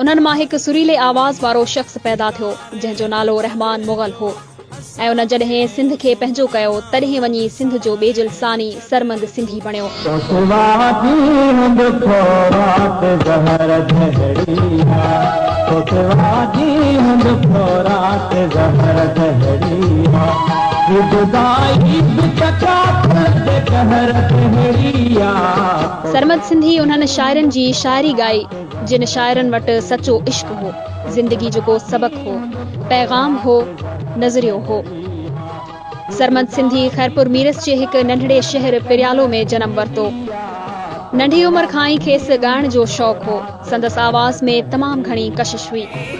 انهن مان هڪ سريلي آواز وارو شخص پيدا ٿيو، جنهن جو نالو رحمان مغل هو ۽ ان جڏهن سنڌ کي پنهنجو ڪيو، تڏهن وڃي سنڌ جو ٻيجل ثاني سرمد سنڌي بڻيو. سرمد سنڌي انهن شاعرن جي شاعري ڳائي. جن شاعرن وٽ سچو عشق هو، زندگي جو ڪو سبق هو، پيغام هو، نظريو هو. سرمد سنڌي خيرپور ميرس جي هڪ ننڍڙي شهر پريالو ۾ جنم ورتو. ننڍي عمر کان ئي کيس ڳائڻ جو شوق هو. سندس آواز ۾ تمام گهڻي ڪشش هئي.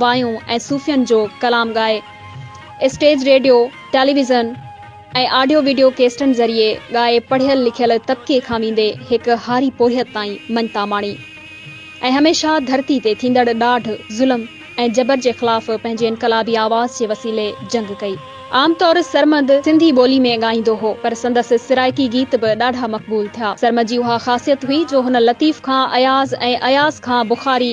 وايون ۽ صوفين جو ڪلام ڳائي، stage, radio, television ۽ audio video ڪيسٽن ذريعي ڳائي پڙهيل لکيل طبقي کان ويندي هڪ هاري پورهيت تائين مڃتا ماڻي ۽ هميشه ڌرتي تي ٿيندڙ ڏاڍ، ظلم ۽ جبر جي خلاف پنهنجي انقلابي آواز جي وسيلي جنگ ڪئي. عام طور سرمد سنڌي ٻولي ۾ ڳائيندو هو پر سندس سرائڪي گيت به ڏاڍا مقبول ٿيا. سرمد جي اها خاصيت هئي جو هن لطيف کان اياز ۽ اياز کان بخاري،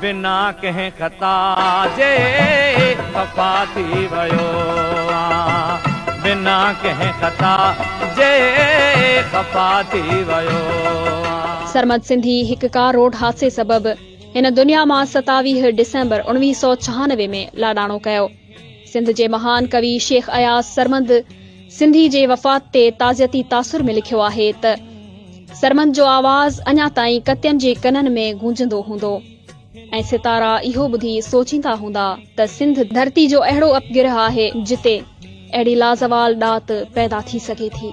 بنا ڪنهن خطا جي خفا ٿي ويو آن بنا ڪنهن خطا جي خفا ٿي ويو آن. سرمد سنڌي هڪ ڪار روڊ حادثي سبب هن دنيا مان ستاويهه ڊسمبر اڻويهه سؤ ڇهانوي ۾ لاڏاڻو ڪيو. سنڌ جي مهان ڪوي شيخ اياز سرمد سنڌي جي وفات تي تعزيتي تاثر ۾ لکيو آهي ته، سرمد جو آواز اڃا تائين ڪتين جي ڪنن ۾ گونجندو هوندو ۽ ستارا اهو ٻڌي سوچيندا هوندا ته سنڌ ڌرتي جو اهڙو اپگرهه آهي جتي اهڙي لازوال ڏات پيدا ٿي سگهي ٿي.